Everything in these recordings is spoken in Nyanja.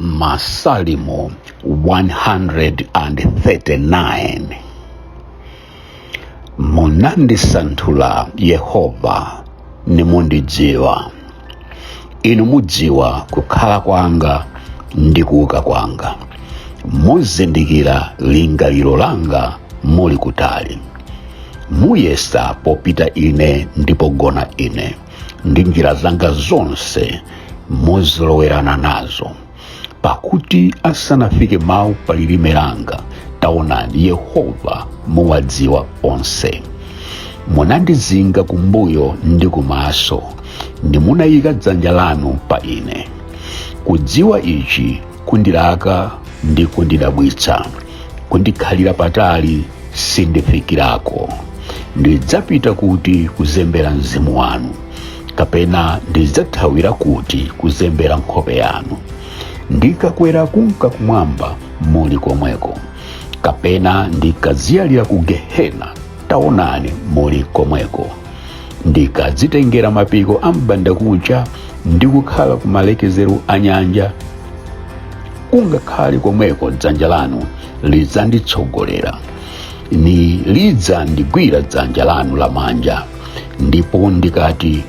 Masalimo 139 munandisanthula yehova nimundidziwa inu mudziwa kukhala kwanga ndi kuuka kwanga muzindikira lingaliro langa muli kutali muyesa popita ine ndi pogona ine ndi njira zanga zonse muzolowerana nazo pakuti asanafike mawu pa lilime langa taonani yehova muwadziwa onse munandizinga kumbuyo ndi kumaso nimunayika dzanja lanu pa ine kudziwa ichi kundilaka ndi kundidabwitsa kundikhalira patali sindifikirako ndidzapita kuti kuzembera mzimu wanu kapena ndidzathawira kuti kuzembera nkhope yanu ndikakwera kunka kumwamba muli komweko kapena ndikadziyalira ku gehena taonani muli komweko ndikadzitengera mapiko a m'bandakucha ndi kukhala ku malekezero a nyanja ungakhale komweko dzanja lanu lidzanditsogolera nilidzandigwira dzanja lanu lamanja ndipo ndikati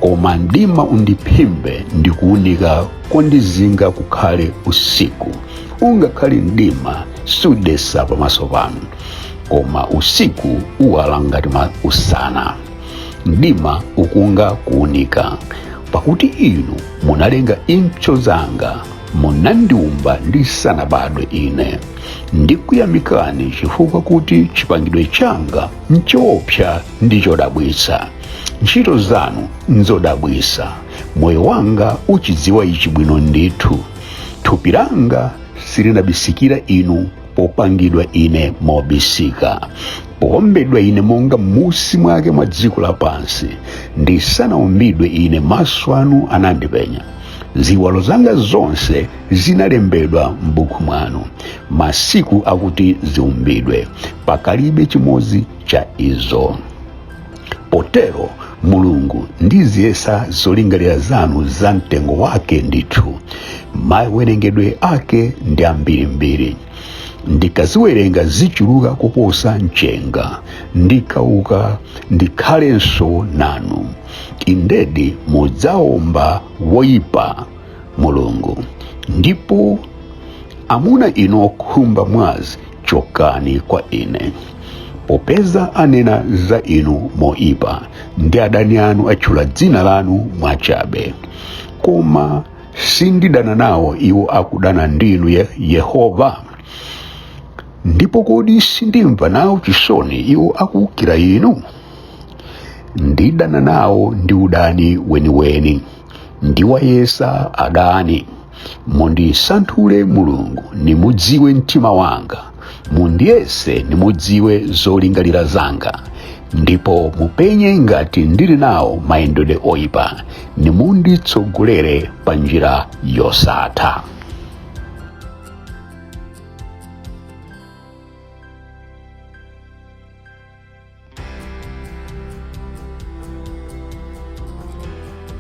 koma mdima undiphimbe ndi kuunika kondizinga kukhale usiku ungakhale mdima sudetsa pamaso panu koma usiku uwala ngati ma- usana mdima ukunga kuunika pakuti inu munalenga impso zanga munandiumba ndisanabadwe ine ndikuyamikani chifukwa kuti chipangidwe changa nchoopsa ndi chodabwitsa ntchito zanu nzodabwitsa moyo wanga uchidziwa ichi bwino ndithu thupi langa silinabisikira inu popangidwa ine mobisika powombedwa ine monga m'munsi mwake mwa dziko lapansi ndisanaumbidwe ine maso anu anandipenya ziwalo zanga zonse zinalembedwa m'buku mwanu masiku akuti ziumbidwe pakalibe chimodzi cha izo potero mulungu ndiziyesa zolingalira zanu za mtengo wake ndithu mawerengedwe ake ndi ambirimbiri ndikaziwerenga zichuluka kuposa mchenga ndikauka ndikhalenso nanu indedi mudzaomba woyipa mulungu ndipo amuna inu okhumba mwazi chokani kwa ine popeza anena za inu moipa ndi adani anu atchula dzina lanu mwachabe koma sindidana nawo iwo akudana ndinu ye yehova ndipo kodi sindimva nawo chisoni iwo akuukira inu ndidana nawo ndi udani weniweni ndiwayesa adani mundisanthule mulungu nimudziwe mtima wanga mundiyese nimudziwe zolingalira zanga ndipo mupenye ngati ndili nawo mayendedwe oyipa nimunditsogolere pa njira yosatha